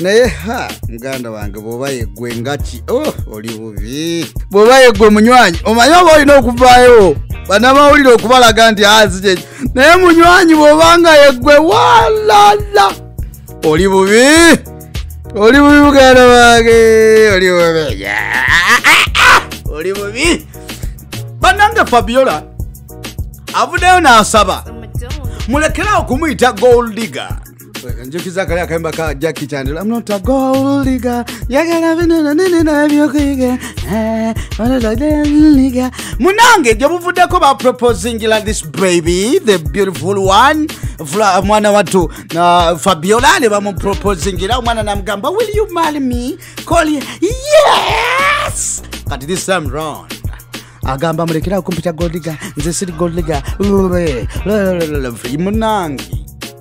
naye ha muganda wange bwoba yeggwe ngaki oh, oli bubi bwoba yeggwe munywanyi omanyi oba olina okuvaayo banamawulire okubalaga nti azikyekyo ah, naye munywanyi bwoba nga yeggwe walala oli bubi oli bubi muganda wange oli bubi oli bubi banange fabiola avuddeyo n'asaba mulekerawo kumuyita goldiga njukiza kali akayimba ka jacki chandela am not a gold digger yagala bino na nini na byokuyiga eh, onoladenliga munange gye buvuddeko ba proposingila this baby the beautiful one Fla, mwana watu uh, fabiola ne bamuproposingila omwana namugamba will you marry me call ye yes kati this time round agamba mulekera okumpita goldiga nze siri goldiga munange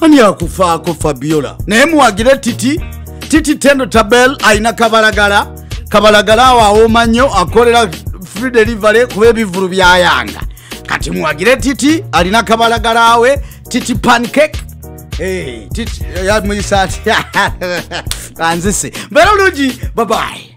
ani akufaako fabiola naye muwagire titi titi tendo tabel alina kabalagala kabalagala awo awooma nnyo akolera free delivery kuba ebivulu byayanga kati muwagire titi alina kabalagala we titi pancake eh, titi yamuyisa atya anzise mbera bulungi babayi